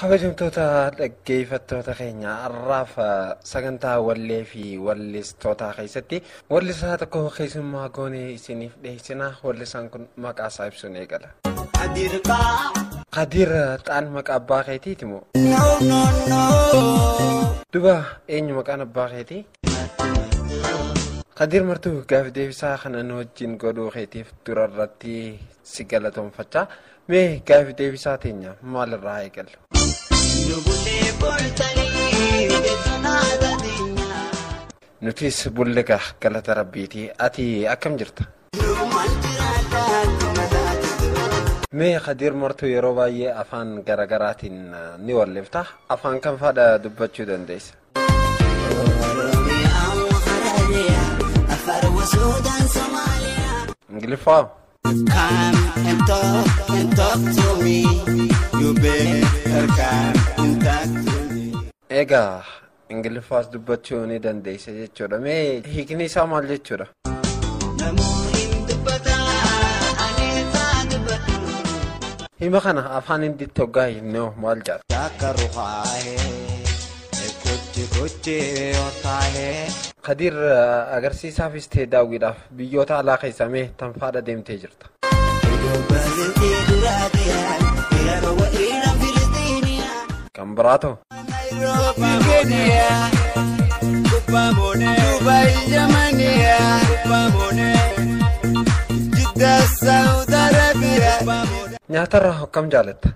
kabajamtoota dhaggeeffattoota keenya har'aaf sagantaa wallee fi wallistootaa keessatti wallisaa tokko keessummaa goonee isiniif dhiyeessina wallisaan kun maqaa isaa ibsuun eegala. Kadir xaan maqaa abbaa keetiiti moo? Duba eenyu maqaan abbaa keetii? Kadir martuu gaafi deebisaa kana nu wajjin godhuu keetiif dura irratti si galatoomfachaa mee gaafi deebisaa teenya maalirraa eegallu. Nutis bulliga galata rabbiiti ati akkam jirta? Mee Kadir martuu yeroo baay'ee afaan garaagaraatiin ni wallifta afaan kam faadha dubbachuu dandeessa? Ingiliffaa. Come and talk and talk to me. You better come and talk to me. Egaa Ingiliffaas dubbachuu ni dandeessa jechuudha. Mee hiikni isaa maal jechuudha? Hima kana afaan hinditti hoggaa himne hoo maal jedha? Takka rukaa'e kuchi kuchi yoo taa'e. Kadiir agarsiisaafis ta'e daawwiidhaaf biyyoota alaa keessaa mee tanfaadha deemtee jirta? Kan biraa ta'u. Nyaatarraa hokkam jaalatta?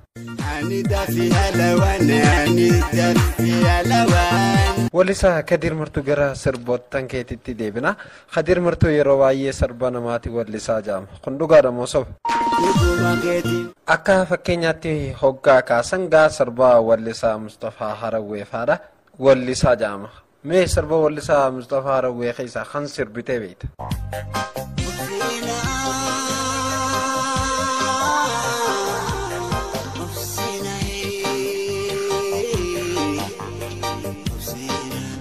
Walisaa Kadir Martuu gara sirboottan keetitti deebina. Kadir martuu yeroo baay'ee sarba namaati wallisaa ja'ama. Kun dhugaadha moo soba? Dhuguma keeti. Akka fakkeenyaatti hoggaa kaasan gaa sirba wallisaa Mustafaa Harawwee faadha wallisaa ja'ama. Mee sirba wallisaa Mustafaa Harawwee keessaa kan sirbitee beekta?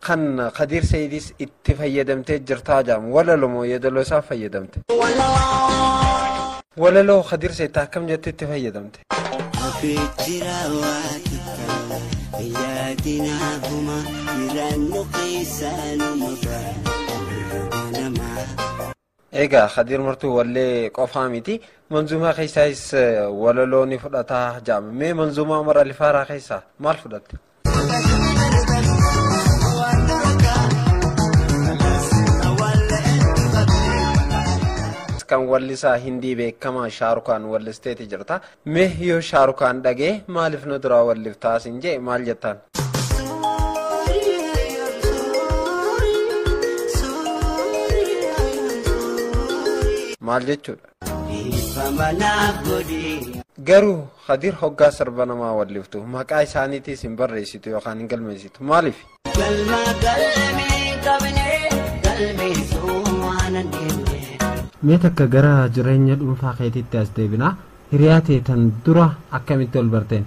Kan Kadiir Seeyidis itti fayyadamtee jirtaa jaam walaloo moo yeedaloo isaa fayyadamte? Walaloo Kadiir Seeyid akkam jette itti fayyadamte? Abeejjira waa takka yaadinaa huma jiraannu keessaanuma bara nama. Egaa Khadir Martuu wallee qofaa miti manzuumaa keessaayis walaloo ni fudhataa jaama. Mee manzuumaa Umar Alifaaraa keessaa maal fudhatte? kan wallisaa hindii beekamaa shaarukaan wallisteeti jirta. Me yoo shaarukaan dhagee maalif nu duraa walliftaa sin jee maal jettaan. maal jechuudha. Garuu Kadir hoggaa sirba namaa walliftu maqaa isaaniitiis hin barreessitu yookaan hin galmeessitu maaliif? Galma galmee qabnee galmeessuu waan hin deemne. Mee takka gara jireenya dhuunfaa keetiitti as deebinaa hiriyaa tee tan dura akkamitti ol barteen?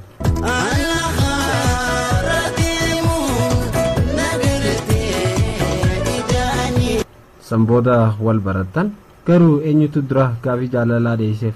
San booda wal barattan garuu eenyutu dura gaafii jaalalaa dhiyeesseef?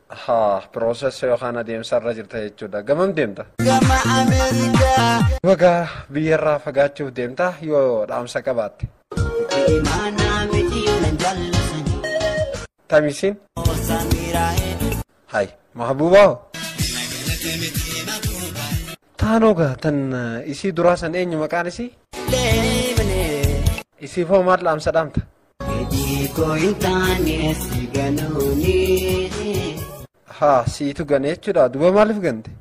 Haa, process yookaan adeemsa irra jirta jechuudha. Gamam deemta? Gama Ameerikaa. Baga biyyarraa fagaachuuf deemta yoo dhaamsa qabaatte. Imaanaa miti yoo nan jaallatani. Tamisiin? Osaan miiraa'ee. Hay, mahbuubaa hoo? Taanoo gaa tan eh, isii duraa san eenyu maqaan isii? Leemnee. Isiif hoo maal dhaamsa dhaamta? Haa siitu gane jechuudha duba maaliif gante?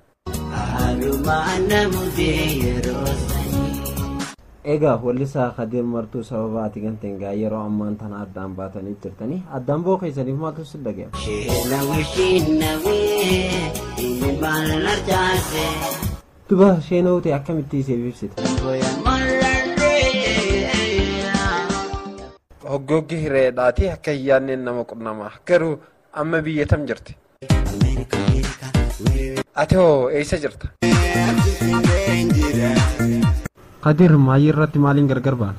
Egaa wallisaa Kadir Martuu sababa ati ganteen gaa yeroo ammaan tana addaan baatanii jirtanii addaan ba'uu keessaniif maaltu si dhaga'ama? Duba sheenoo ta'e akkamitti siif ibsita? Hoggoggi hireedhaati akka hin yaadneen nama qunnama. Garuu amma biyya tam jirti? Ati hoo eessa jirta? Kadir maayii irratti maaliin gargar baana?